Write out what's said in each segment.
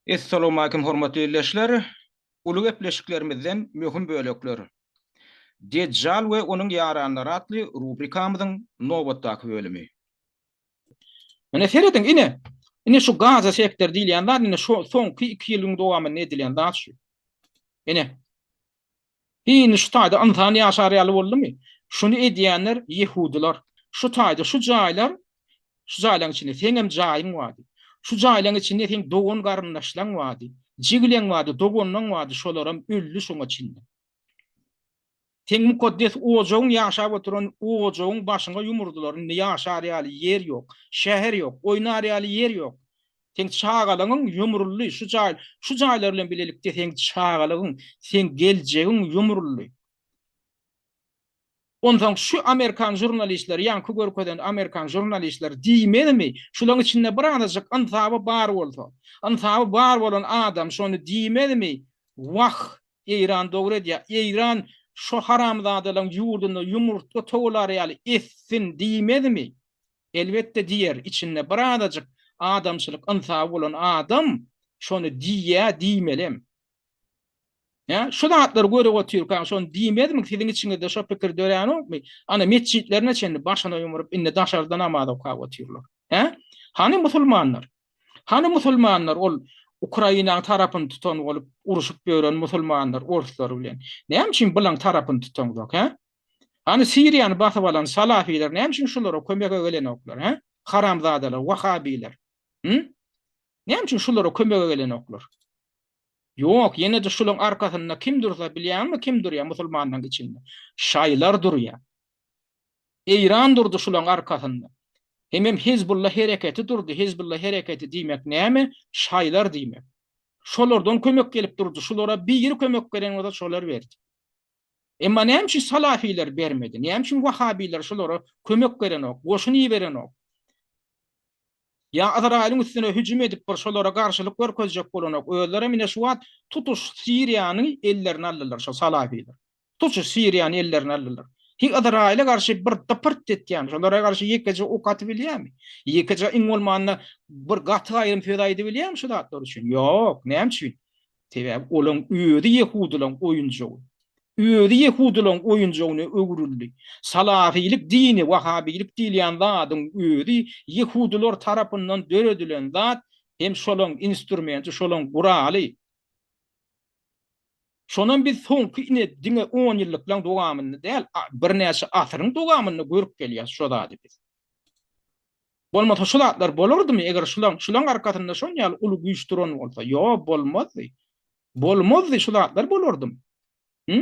Essalawmalikim hormatly ildeşler! Uly gepleşiklerimizden möhüm bölekler. Dejjal we onuň ýaranlary atly rubrikamyzyň nobatdaky bölümi. Ine serediň ine! Ine şu Gaza sektory diýilýän zat ine şo soňky iki ýylyň dowamynda edilen zat şu. Ine. Indi şu taýda ynsan ýaşar ýaly boldumy? Şuny edýänler ýehudylar. Şu taýda şu jaýlar, şu jaýlaryň içinde seňem jaýyň bardy. Şu jaýlaryň içinde seň dogan-garyndaşlaryň bardy. Jigileň bardy, doganlaryň bardy, şolaram öldi şoňa çenli. Seň mukaddes ojagyň ýaşap oturan ojagyň başyňa ýumurdylar. Indi ýaşar ýaly ýer ýok, şäher ýok, oýnar ýaly ýer ýok. Seň çagalaňyň ýumruldy şu jaý şu jaýlar bilen bilelikde seň çagalagyň seň geljegiň ýumruldy. Onsaň şu amerikan žurnalistleri ýaňky görkezen amerikan žurnalistleri diýmezmi şulaň içinde bir azajyk ynsaby bar bolsa ynsaby bar bolan adam şony diýmezmi wah eýran dogry edýä eýran şo haramzadalaň ýurdunda ýumurtga towalar ýaly etsin diýmezmi Elbetde diýer, içinde bir azajyk adamçylyk ynsaby bolan adam şony diýýä, diýmelem. Hä, şu zatlary görüp otyrkaň şony diýmezmi, siziň içiňizde şo pikir döränokmy? Ana metjitlerine çenli başyna ýumrup indi daşarda namaz okap otyrlar. Hä? Hany musulmanlar? Hany musulmanlar ol Ukrainaň tarapyny tutan bolup uruşyp ýören musulmanlar orslar bilen? Näme üçin bulaň tarapyny tutaňzok, hä? Hany Siriýany basyp alan salafiler näme üçin şulara kömege gelenoklar he? Haramzadalar, wahabiler. Hü? Näme üçin şulara kömege gelenoklar? Ýok, ýene-de şulaň arkasynda kim dursa bilýäňmi kim durýa musulmanlaň içinde? Şaýlar durýa. Eýran durdy şulaň arkasynda. Hemem Hezbulla hereketi durdy, Hezbulla hereketi diýmek näme? Şaýlar diýmek. Şolardan kömek gelip durdy, şulara biri kömek beren bolsa şolar berdi. Emma näme üçin salafiler bermedi? Näme üçin wahabiler şulara kömek berenok, goşun iberenok? Ýa Yzraýylyň üstüne hüjüm edip bir şolara garşylyk görkezjek bolanok? Özlerem ine şu wagt tutuş Siriýany ellerine aldylar şo salafiler. Tutuş Siriýany ellerine aldylar. Hiý Yzraýyla garşy bir dypyrt etýän, şolara garşy ýekeje ok atyp bilýärmi? Ýekeje iň bolmanda bir gaty aýdym söz aýdyp bilýärmi şu zatlar üçin? Ýok, näme üçin? Sebäbi olaň özi ýehudylaň oýunjagy. Özi ýehudylaň oýunjagyna öwrüldi. Salafilik dini, wahabilik diýilýän zadyň özi ýehudylar tarapyndan döredilen zat hem şolaň instrumenti, şolaň guraly. Şonam biz soňky ine diňe onýyllyklaň dowamynda däl, birnäçe asyryň dowamynda görüp gelýäs şo zady biz. Bolmasa şu zatlar bolardymy eger şulaň şulaň arkasynda şon ýaly uly güýç duran bolsa ýo bolmazdy. Bolmazdy şu zatlar bolardymy. Hü?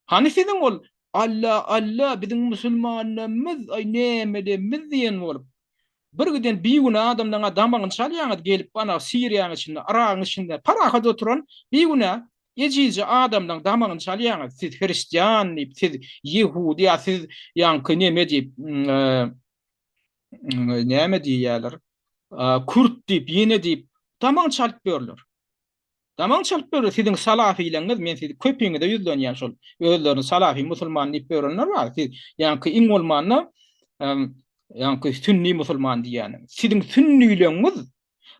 Hany siziň ol Alla Alla biziň musulmanlarymyz aý nämelemmiz diýen bolup. Bir giden bigünä adamlaň damagyny çalýaňyz gelip ana siriýaň içinde yragyň içinde parahat oturan bigünä Ejizje adamlaň damagyny çalýaňyz siz hristian diýip siz ýehudi ýa siz ýaňky neme diýip näme diýýäler kürt diýip ýene diýip damagyny çalyp ýörler. Damagyny çalyp ýörler siziň salafylaňyz men sizi köpiňize ýüzlenýän şol özlerini salafy musulman diýip ýörenler bar siz ýaňky iň bolmanda ýaňky sünni musulman diýýäniň siziň sünnileňiz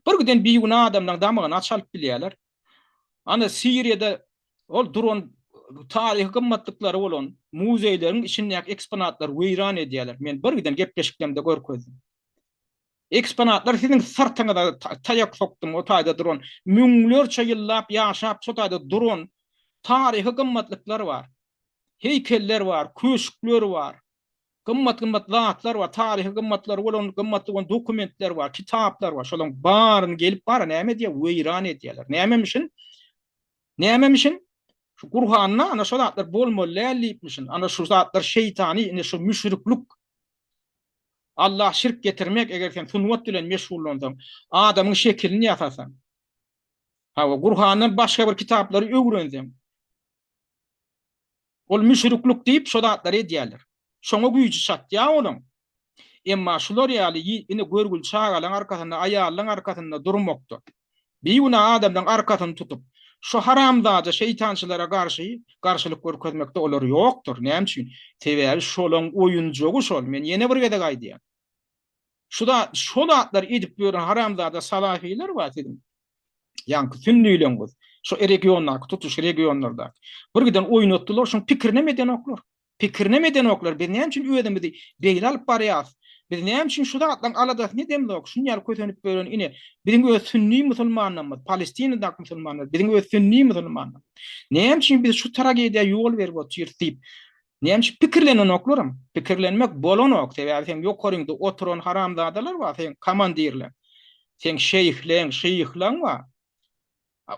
Bir giden bigünä adamlaň damygyny aç alyp bilýärler. Ana Siriýada ol duran taryhy gymmatlyklary bolan muzeýleriň içindäki eksponatlary weýran edýärler. Men bir giden gepleşiklerimde görkezdim. Eksponatlar siziň syrtyňyza taýak sokdum, o taýda duran müňlerçe ýyllap ýaşap şo taýda duran taryhy gymmatlyklar bar. Heýkeller bar, köşkler bar. gymmat-gymmat zatlar bar, taryhy gymmatlary bolan, gymmatly bolan dokumentler bar, kitaplar bar. Şolaryň baryny gelip bara näme edýär? Weýran edýärler. Nämemişin? Nämemişin? Şu Gurhanda ana şu zatlar bolmaly däl diýipmişin. Ana şu zatlar şeýtany, ine şu müşriklik. Allah şirk getirmek, eger sen sungat bilen meşgullansaň, adamyň şekilini ýasasaň. Hawa, Gurhandan başga bir kitaplary öwrenseň, Ol müşriklik diýip şo zatlary edýärler. Şoňa güýji çatýar olaň. Emma şular ýaly y ini görgül çagalaň arkasynda aýallaň arkasynda durmakda, bigünä adamlaň arkasyny tutup, şo haramzada şeýtançylara garşy garşylyk görkezmekde olar ýokdur. Näme üçin? Sebäbi şolaň oýunjagy şol. Men ýene bir gezek aýdýan. Şu zat şo zatlar edip ýören haramzada salafiler bar siziň. Ýaňky sünnüleňiz. Şu regiondaky tutuş regionlarda. Bir giden oýnatdylar şuň pikirini hem edenoklar. Pikirini hem edenoklar. Biz näme üçin özümizi beýle alyp barýas? Biz näme üçin şu zatlaryň aladasyny edemzok? Şuny ýaly kösenip ýören ine biziň öz sünni musulmanlarymyz, Palestinadak musulmanlar, biziň öz sünni musulmanlar. Näme üçin biz şu tragediýa ýol berip otyrys diýip Näme üçin pikirlenenoklaram? Pikirlenmek bolanok, sebäbi seň ýokaryňda oturan haramzadalar bar, seň komandirleň, seň şeýhleň, şyhlaň bar.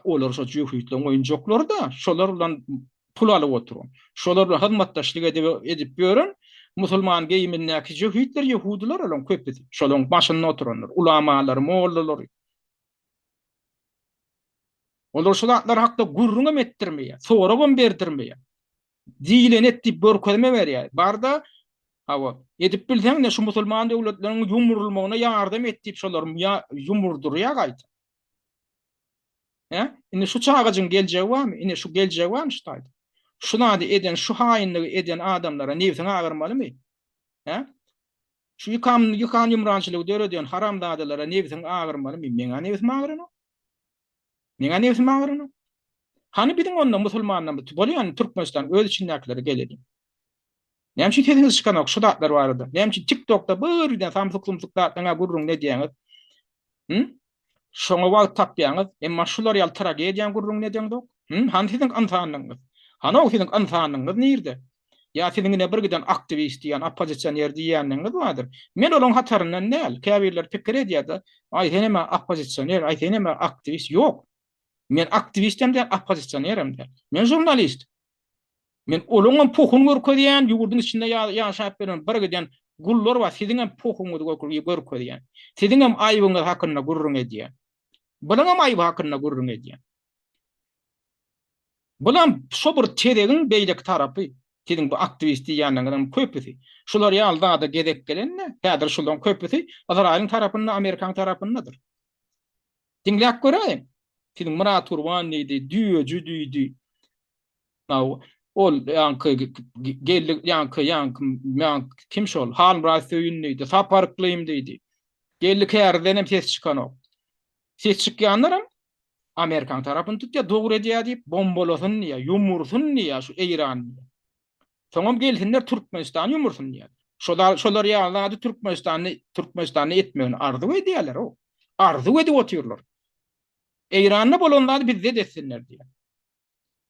Olar şo jübütleň oýunjaklary-da, şolar bilen pul alyp oturan, şolar bilen hyzmatdaşlyk edip edip ýören musulman geýimindäki jübütler ýehudylar olaň köpüsi, şolaň başynda oturanlar, ulamalary, mollalary. Olar şo zatlar hakda gürrüňem etdirmeýär, soragam berdirmeýär. diýileni et diýip görkezme berýär. Barda Hawa, edip bilseň-de şu musulman döwletleriň ýumrulmagyna ýardam et diýip şolar ýumurdurýar gaýta. He? Indi şu çagajyň geljegi barmy? Indi şu geljegi barmy şu taýda? Şu zady eden, şu haýynlygy eden adamlara nebsiň agyrmalymy? He? Şu ýykan ýykan ýumrançylygy döreden haramzadalara nebsiň agyrmalymy? Meň nebsim agyryn. Neňä nebsim agyranyň? Hany biziň onda musulmanlarymyz bolýan Türkmenistan öz içindäkileri gel edin. Näme üçin sesiňiz çykanok şu zatlar barada? Näme üçin TikTokda birden samsyk-sumsyk zatlaryňa gürrüň edýäňiz? Hı? Şoňa wagt tapýaňyz, emma şular ýaly tragediýa gürrüň edýäňizok. Hany siziň ynsanlygyňyz? Hany o siziň ynsanlygyňyz nirde? Ýa siziň ine bir giden aktiwist diýýän, oppozisioner diýýändigiňiz bardyr. Men olaryň hataryndan däl. Käbirler pikir edýärde, Aý sen hem-ä oppozisioner, aý sen hem-ä aktiwist. Ýok. Men aktiwist hem däl, oppozisioner hem däl. Men žurnalist. Men olaryň hem pohuny görkezýän, ýurduň içinde ýaşap ýören bir giden gullar bar, siziň hem pohuňyzy görkezýän. Siziň hem aýbyňyz hakynda gürrüň edýän. Bunuň hem aýby hakynda gürrüň edýän. Bulam şo bir tezegiň beýleki tarapy. Siziň bu aktiwist diýýänleriňiziň köpüsi şular ýaly zada gezek gelende, häzir şularyň köpüsi Yzraýylyň tarapynda, Amerikanyň tarapyndadyr. Diňläp göräýiň. Siziň Myrat Gurban diýdi, Düýeji diýdi. Naw, ol ýaňky geldi, ýaňky, ýaňky, ýaňky kim şol? Halmyrat Söýün diýdi, Sapar Yklym diýdi. Geldi Kärizden hem ses çykanok. Ses çykýanlaram Amerikan tarapyny tutýar, dogry edýär diýip, bombalasyn diýýär, ýumursyn diýýär şu Eýran. Soňam gelsinler Türkmenistany ýumursyn diýýär. Şolar şolar ýaly zady Türkmenistanda Türkmenistanda etmegini arzuw edýärler o. Arzuw edip otyrlar. Eýranda bolan zady bizde de etsinler diýýär.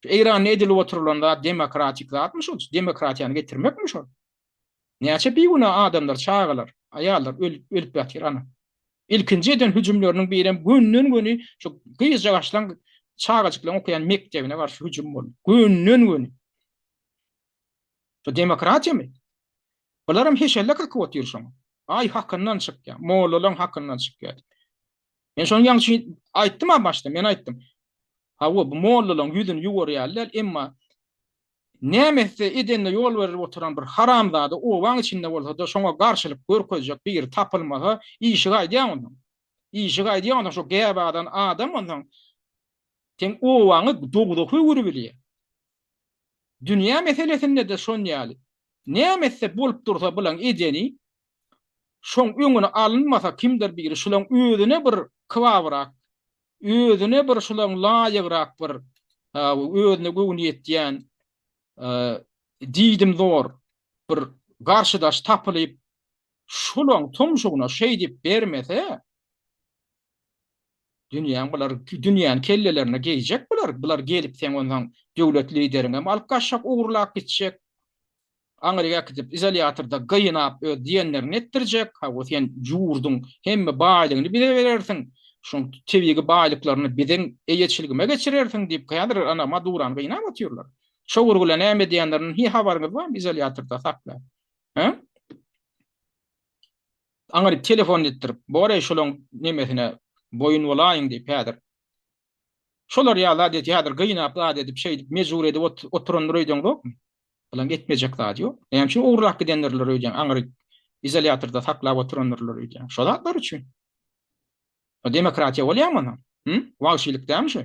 Şu Eýranda edilip oturylan zat demokratik zatmy şol? Şu demokratiýany getirmekmi şol? Näçe bigünä adamlar, çagalar, aýallar ölüp, ölüp ýatyr ana. Ilkinji eden hüjümleriniň birem gönden-göni şu gyzjagaşlaň, çagajyklaň okaýan mekdebine garşy hüjüm boldy. Gönden-göni. Şu demokratiýamy? Bularam heşelle kakyp otyr şoňa. Aý hakyndan çykýar, mollalaň hakyndan çykýar. Men şonuň ýaňçy aýtdym ha başda, men aýtdym. Hawa, bu mollalaryň ýüzüni ýuwarýarlar, emma näme etse edende ýol berip oturan bir haramzada obaň içinde bolsa-da şoňa garşylyk görkezjek biri tapylmasa, işi gaýdýar onda. Işi gaýdýar onda şo gäbadan adam onda. Sen obaňy dogzak öwürip bilýär. Dünýä meselesinde-de şon ýaly. Näme etse bolup dursa bilen edeni, şoň öňüni alynmasa kimdir biri şulaň özüne bir kybabrak özüne bir şulaň laýygrak bir özüne göwni ýetýän diýdim zor bir garşydaş tapylyp şulaň tumşugyna şeýdip bermese dünýäň bular dünýäni kellelerine geýjek bular bular gelip seň onsaň döwlet lideriňem alyp gaçjak ogurlap gitjek Aňryk äkidip, izolýatorda gynap, öz diýenlerini etdirjek. Hawa, sen ýurduň hemme baýlygyny bize berersiň, şoň tebigy baýlyklaryny biziň eýeçiligime geçirersiň diýip, häzir ana Madurany gynap otyrlar. Çowurgula näme edýänlerinden hiý habaryňyz barmy, izolýatorda saklap? Hä? Aňryk telefon etdirip, bor-eý, şolaň nemesine boýun bolaýyň diýip, häzir Şolar ýaly zat et, häzir gynap zat edip, şeýdip, mejbur edip oturandyr öýdäňzokmy? Bulam etmejek zat ýok. Näme üçin ogurlap gidendirler öýdýäň, aňry izolýatorda saklap oturandyrlar öýdýäň. Şo zatlar üçin. Bu demokratiýa bolýamy onam? Hü? Wagşylyk dälmi şu?